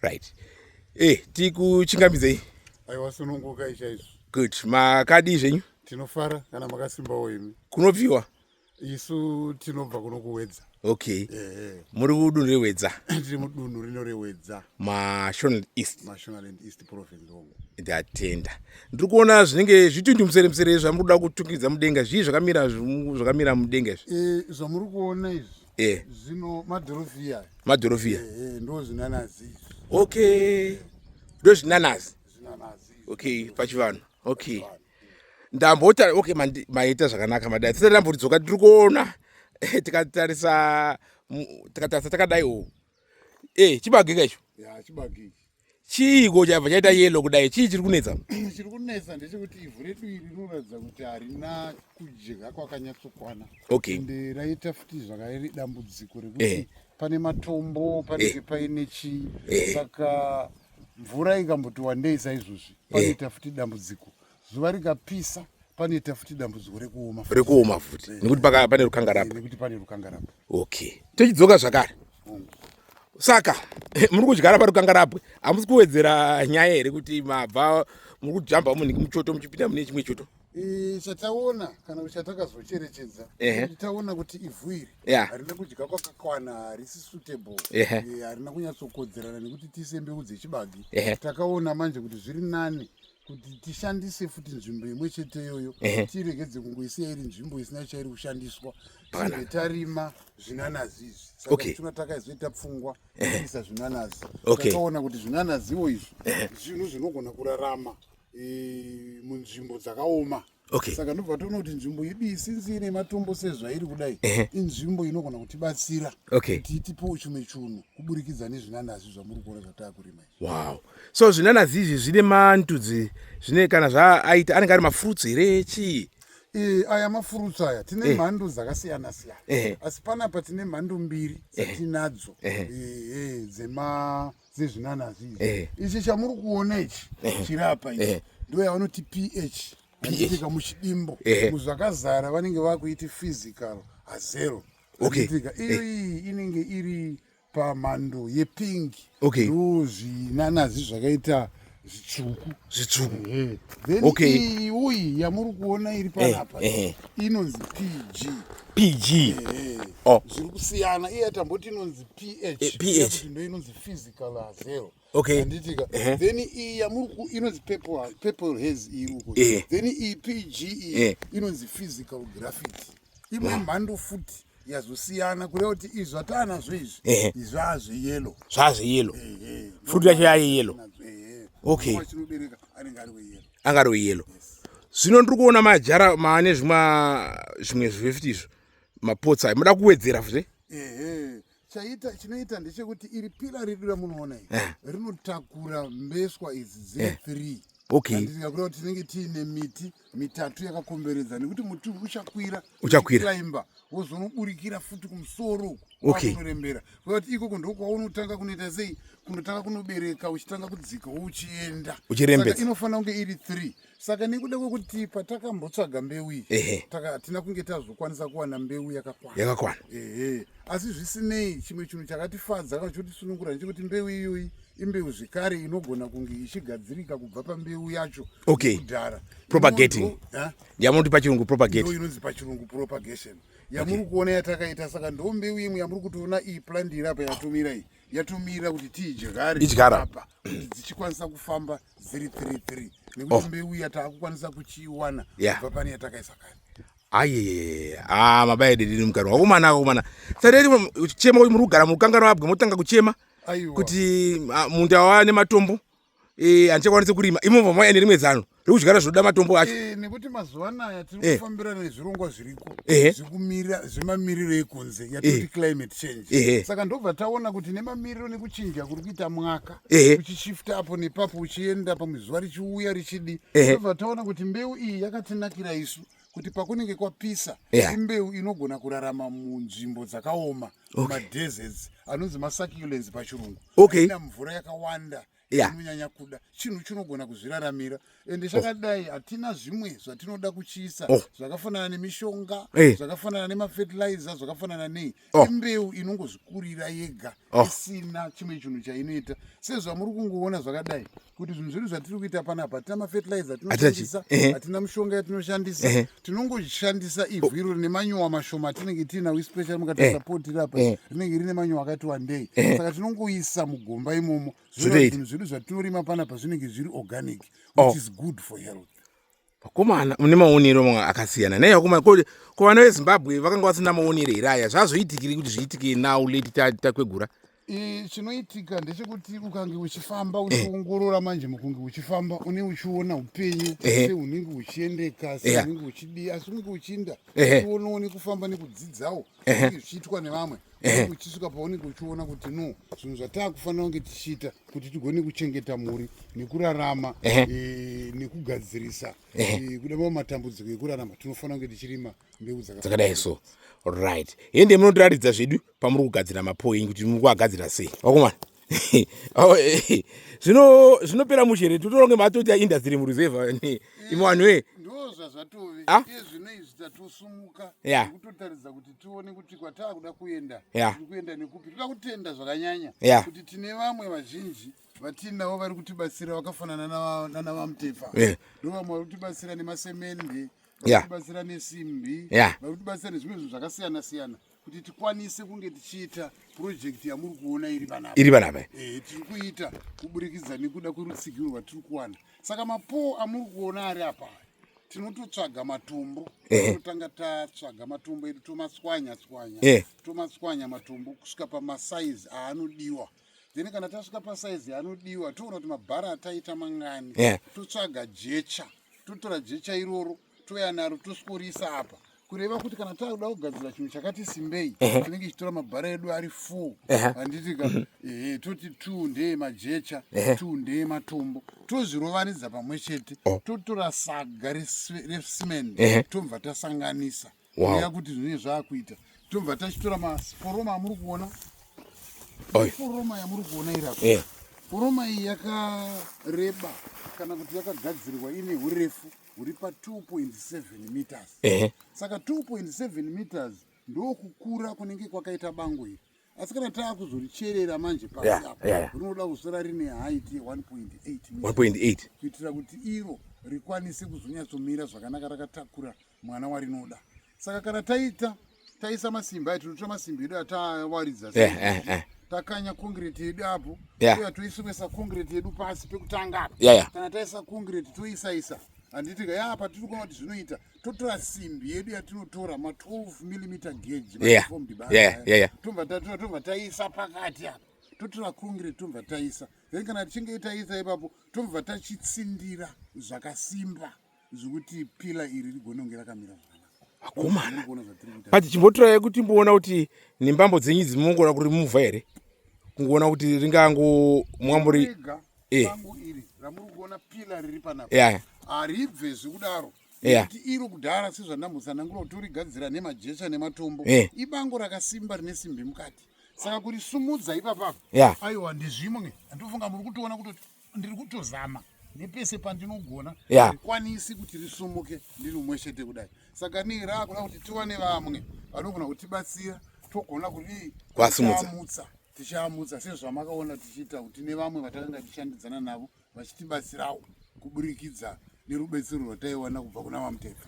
right eh tikuchingamidzei aiwa sununguka ichaizvo good makadii zvenyu tinofara kana makasimbawo imi kunobviwa isu tinobva kuno kuwedza okay eh, eh. muri kudunhu rewedza tiri mudunhu rino rewedza mashonal east mashonaland east province home ndatenda ndiri kuona zvinenge zvitundu musere musere zvamuri kuda kutungidza mudenga zvii zvakamira zvakamira mudenga izvi e, zvamuri kuona izvi eh. zvino madhorofiya madhorofiya eh, eh, ndo zvinanazi okay ndo zvinanazi okay pachivanhu okay ndambota okay maita zvakanaka madai tisati ndamboridzoka tiri kuona eh, tikatarisa tikatarisa takadaiwo e chibagika icho chiiko chabva chaita yellow kudai chii chiri kunetsa chiri kunetsa ndechekuti ivhu redu iri rinoratidza kuti harina kudya kwakanyatsokwana okay and eh, raita futi zvakairi dambudziko rekuti eh. pane matombo panenge eh. paine chii eh. saka mvura ikamboti wandei saizvozvi eh. panoita eh. futi dambudziko zuva rikapisa panoita futi dambudziko rekuoma rekuoma futi eh, nekuti pane rukangarapa eh, nekuti pane rukangarapa okay tochidzoka zvakare mm. saka eh, muri kudyara parukangarapwe hamusi kuwedzera nyaya here kuti mabva muri kujamba munhu muchoto muchipinda mune chimwe choto chataona kana kuti chatakazocherechedza taona kuti ivhu iri harina kudya kwakakwana harisi suitable harina kunyatsokodzerana nekuti tiise mbeu dzechibagi takaona manje kuti zviri nani kuti tishandise futi nzvimbo imwe chete iyoyo tiregedze kungoisiya iri nzvimbo isina chairi kushandiswa tinge tarima zvinanazi izvi saka tuna takaizoita pfungwa kuisa zvinanazi takaona kuti zvinanaziwo izvi zvinhu zvinogona kurarama e, munzvimbo dzakaoma okay. okay. saka ndobva toona kuti nzvimbo yedu iyi sinzi ine matombo sezvairi kudai inzvimbo inogona kutibatsira okay. kuti tipewo chimwe chunhu kuburikidza nezvinanazi zvamuri kuona zvataakurima izvi wow so zvinanazi izvi zvine mantudzi zvine kana zvaaita anenge ari mafruits here chii e, aya mafruits aya tine e. mhando dzakasiyana siyana e. asi panapa tine mhando mbiri dzatinadzo e. e, e, dzema dzezvinanazi ichi eh. ichi chamuri kuona ichi eh. chirapa ichi eh. ndo yavanoti ph achitika muchidimbo muzvakazara vanenge vakuiti physical hazero achitika iyoiyi inenge iri pamhando yepingi ndo zvinanazi zvakaita zvitsvuku zvitsvuku okay iyi uyi yamuri kuona iri panapa eh, eh. inonzi pg pg eh, oh. zviri kusiyana iye tamboti inonzi ph ph ndo inonzi physical azero okay anditika then iyi yamuri ku inonzi purple purple haze iyi uko then iyi pg iyi inonzi physical graffiti imwe mhando futi yazosiyana kureva kuti izvi zvataanazvo izvi izvi zvaazveyelo zvaazveyelo fruit yacho yaye yelo okay anga ari weyelo zvino ndiri kuona majara maane zvimwe zvimwe zvifti izvo mapotsi ayo muda kuwedzera futi chaita chinoita ndechekuti iri pira redu ramunoona iri eh. rinotakura mbeswa idzi dziri eh. three okayndikakuraa kuti tinenge tiine miti mitatu yakakomberedza nekuti muti uchakwira uchakwiraimba wozonoburikira futi kumusoro uku wakunorembera kuva kuti ikoko ndokwawunotanga kunoita sei kunotanga kunobereka uchitanga kudzika uchienda uchirembedza inofanira kunge iri three saka nekuda kwekuti patakambotsvaga mbeu iyi hatina kunge tazokwanisa kuwana mbeu yakakwana yakakwana ehe asi zvisinei chimwe chinhu chakatifadza kana chotisunungura ndechekuti mbeu iyoyi imbeu zvekare inogona kunge ichigadzirika kubva pambeu yacho okay. kudhara propagating yamunoti pachirungu propagate inonzi pachirungu propagation yamuri kuona yatakaita saka ndo mbeu imwe yamuri kutoona iyi plandi iri apa yatomira iyi yatomirira kuti tiidyare idyara apa kuti dzichikwanisa kufamba dziri three three nekuti Oh. mbeu iya taakukwanisa kuchiiwana Yeah. kubva pane yatakaisa kare ayeyeye ah mabaya dedini mukaro wakomana akomana sareri kuchema kuti muri kugara murukanganwa abwe motanga kuchema aiwa kuti ah, munda wane matombo eh andichakwanisi kurima imomo mwa ene rimwe zano rekudyara zvinoda matombo acho eh nekuti mazuva anaya tiri eh. kufambira nezvirongwa zviriko eh. zvikumira zvemamiriro ekunze eh. yatoti climate change saka ndobva taona kuti nemamiriro nekuchinja kuri kuita mwaka uchishifta apo nepapo uchienda pamwe zuva richiuya richidi ndobva taona kuti mbeu iyi yakatinakira isu kuti pakunenge kwapisa yeah. imbeu inogona kurarama munzvimbo dzakaoma okay. madeserts anonzi masucculence pachirungu okay. ina mvura yakawanda inonyanya yeah. kuda chinhu chinogona kuzviraramira ende oh. chakadai hatina oh. zvimwe zvatinoda kuchiisa oh. zvakafanana nemishonga hey. Eh. zvakafanana nemafertilizer zvakafanana nei oh. imbeu inongozvikurira yega oh. isina chimwe chinhu chainoita sezvamuri kungoona zvakadai kuti zvinhu zvedu zvatiri kuita panapa hatina mafertilizer tinoshandisa hatina mishonga yatinoshandisa tinongoshandisa ivhu iro rine manyuwa mashoma atinenge tiinawo ispecial mukatarisa pot iri apa rinenge rine manyuwa akati wandei saka tinongoisa mugomba imomo zvinhu zvedu zvatinorima panapa zvinenge zviri organic which oh. is good for health vakomana mune maonero mamwe akasiyana nei vakomana ko ko vana vezimbabwe vakanga vasina maonero here aya zvazoitikiri kuti zviitike now leti takwegura ta chinoitika ndechekuti ukange uchifamba eh. uchiongorora manje mukunge uchifamba une uchiona upenyu eh. seunenge uchiendeka seunenge uchidii asi unenge uchiinda uonoone kufamba nekudzidzawo zvichiitwa nevamwe uchisvika paunenge uchiona kuti no zvinhu zvataakufanira kunge tichiita kuti tigone kuchengeta mhuri nekurarama eh, nekugadzirisa eh, kuda mava matambudziko ekurarama tinofanira kunge tichirima mbeu dzakadai so right hende munotiratidza zvedu pamuri kugadzira mapoingi kuti muri kuagadzira sei vakomana zvino zvinopera mushe here totoronge matoti aindastry mureserve imwe vanhu e ndozvazvatove ah? iye zvino izvi tatosumuka kutotaridza kuti tione kuti kwataakuda kuenda tiri kuenda nekupi toda kutenda zvakanyanya kuti tine vamwe vazhinji vatiinavo vari kutibatsira vakafanana nana vamutefa eh. ndo vamwe vari kutibatsira nemasemende vakutibatsira nesimbi vakutibatsira nezvimwe zvinhu zvakasiyana siyana kuti tikwanise kunge tichiita project yamuri kuona iri vana iri vana ava eh tiri kuita kuburikidza nekuda kwerutsigiro rwatiri kuwana saka mapoo amuri kuona ari apa tinototsvaga matombo eh. totanga tatsvaga matombo edu tomatswanya tswanya eh. tomatswanya matombo kusvika pamasaizi aanodiwa then kana tasvika pasaizi aanodiwa toona kuti mabhara ataita mangani eh. totsvaga jecha totora jecha iroro touya naro tosikurisa apa kureva kuti kana takuda kugadzira chinhu chakati simbei tinenge chitora mabhara edu ari four handiti ka mhm. ehe toti two ndeye majecha two ndeye matombo tozvirovanidza pamwe chete oh. totora saga recement tobva tasanganisa kuuya kuti zvinenge zvakuita tobva tachitora maforoma amuri kuona foroma yamuri kuona irapa eh. foroma iyi yakareba kana kuti yakagadzirwa ine urefu huri pa 2.7 meters saka 2.7 meters ndokukura kunenge kwakaita bango iri asi kana taakuzoricherera manje pasi yeah, apa yeah, yeah. rinoda kusara rine height ye 1.8 kuitira kuti iro rikwanise kuzonyatsomira zvakanaka rakatakura mwana warinoda saka kana taita taisa masimba ayo tinotora masimba edu ataawaridza yeah, yeah, yeah takanya concrete yedu apo yeah. uya toisomesa concrete yedu pasi pekutanga apo yeah, yeah. kana taisa concrete toisaisa handiti ka yaa patiri kuona kuti zvinoita totora simbi yedu yatinotora ma 12 millimeter gauge yeah. yeah, yeah, yeah. tobva tatora tobva taisa pakati apa totora kungire tobva taisa then kana tichinge taisa ipapo tobva tachitsindira zvakasimba zvekuti pila iri rigone kunge rakamira akomana but chimbotora yekuti mboona kuti nembambo dzenyu idzi mongona kuri muvha here kungoona kuti ringango mwamburi eh. yeah. haribve zvekudaro yeah. iro kudhara sezvandamutsanangura kuti urigadzira nemajecha nematombo yeah. ibango rakasimba rine simbi mukati saka kuri sumudza ipapapa yeah. aiwa ndezvimwe andifunga muri kutoona kuti ndiri kutozama nepese pandinogona yeah. kwanisi kuti risumuke ndiri umwe chete kudai saka nii raakuda kuti tiwane vamwe vanogona kutibatsira togona kuri kwasumudza tichamutsa sezvamakaona tichiita kuti nevamwe vatakanga tichandidzana navo vachitibatsirawo kuburikidza nerubetsero rwataiwana kubva kuna vamuteka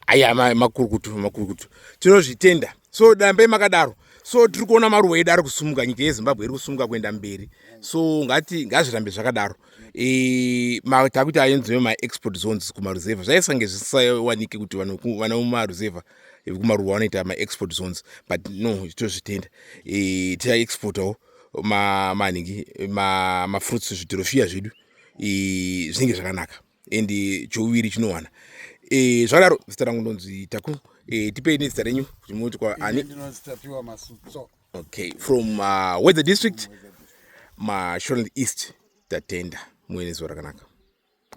aya makurukutu makurukutu tinozvitenda so dambe makadaro so tiri kuona maruwa edu ari kusumuka nyika yezimbabwe iri kusumuka kuenda mberi so ngati ngazvirambe zvakadaro e, takuti ayenziwe maexport zones kumaruzevha zvaisange zvisawanike kuti vana mumaruzevha vekumaruwa vanoita maexport zones but no tozvitenda e, tichaexportawo manhingi mafruits zvidhorofiya zvedu zvinenge zvakanaka and chouviri chinowana e, zvadaro zita rangu ndonzi taku e, tipei nezita renyu kuti munoti kwaani okay from uh, weather district mashorland east tatenda muenezuva rakanaka